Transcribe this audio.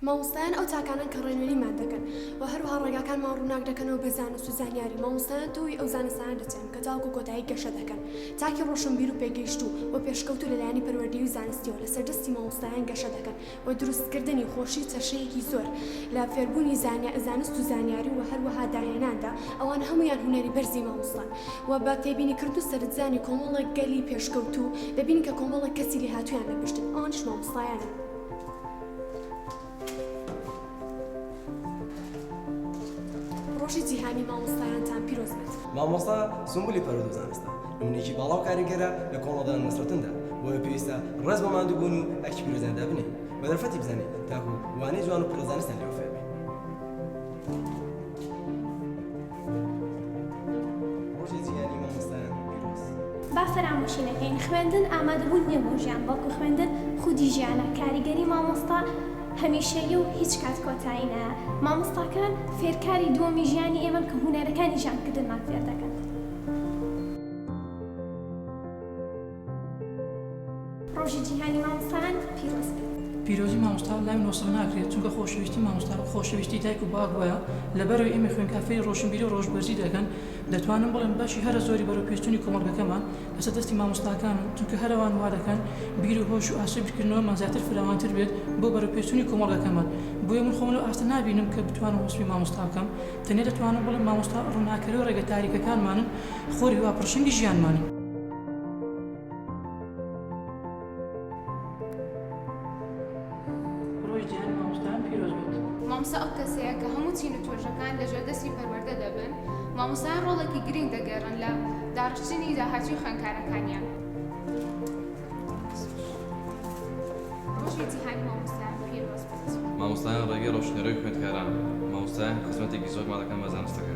مامۆستایان ئەو تاکانەن کە ڕێنوێنیمان دەکەن و هەروەها ڕێگاکانمان ڕووناک دەکەنەوە بە زانست و زانیاری، مامۆستایان تۆوی ئەو زانستانە دەچێنن کە تاوەکو کۆتایی گەشە دەکەن، تاکی ڕۆشنبیر و پێگەیشتوو و پێشکەوتوو لە لایەنی پەروەردەیی و زانستیەوە لەسەر دەستی مامۆستایان گەشە دەکەن و دروستکردنی خۆشی و چەشەیەکی زۆر لە فێربوونی زانست و زانیاری و هەروەها داهێناندا، ئەوانە هەموویان هونەری بەرزی مامۆستان و بە تێبینیکردن و سەرنجدانی کۆمەڵێک گەلی پێشکەوتوو دەبینین کە کۆمەڵێک کەسی لێهاتوویان لە پشتن ئەوانیش مامۆستایانن. ڕۆژی جیهانی مامۆستایانتان پیرۆز بێت. مامۆستا سونبولی پەروەردە و زانستە نمونەیەکی باڵا و کاریگەرە لە کۆمەڵگەدا نەسرەتندا، بۆیە پێویستە ڕێز بۆ ماندووبوون و ئەرکی پیرۆزیان دابنێین و دەرفەتی بزانین تاکوو وانەی جوان و پڕ لە زانستیان لێوە فێربین. ڕۆژی جیهانی مامۆستایان پیرۆز. با فەرامۆشی نەکەین خوێندن ئامادەبوون نیە بۆ ژیان بەڵکو خوێندن خودی ژیانە کاریگەری مامۆستا هەمیشەیە و هیچ کات کۆتایی نایە مامۆستاکان فێرکاری دووەمی ژیانی ئێمەن کە هونەرەکانی ژیان کردنمان فێردەکەن. ڕۆژی جیهانی مامۆستایان پیرۆز بێت. پیرۆزی مامۆستا لای من وەسف ناکرێت چونکە خۆشەویستی مامۆستا وەک خۆشەویستی دایک و باوک وایە لەبەرئەوەی ئێمەی خوێندکار فێری ڕۆشنبیری و ڕۆشبەرزی دەکەن دەتوانم بڵێم بەشی هەرە زۆری بەرەو پێشچونی کۆمەڵگەکەمان لەسەر دەستی مامۆستاکانن چونکە هەر ئەوان وادەکەن بیر و هۆش و ئاسۆی بیرکردنەوەمان زیاتر فراوانتر بێت بۆ بەرەو پێشچونی کۆمەڵگەکەمان بۆیە من خۆم لەو ئاستە نابینم کە بتوانم وەسفی مامۆستا بکەم تەنیا دەتوانم بڵێم مامۆستا ڕوناکەرەو ڕێگە تاریکەکانمانن خۆر هیوا پڕشنگی ژیانمانن. مامۆستا ئەو کەسەیە کە هەموو چین و توێژەکان لە ژێر دەستی پەروەردە دەبن مامۆستایان ڕۆڵێکی گرنگ دەگێڕن لە داڕشتنی داهاتووی خوێندکارەکانیان مامۆستایان ڕێگەی ڕۆشنەرۆی خوێندکاران مامۆستایان خزمەتێکی زۆرمان دەکەن بە زانستەکە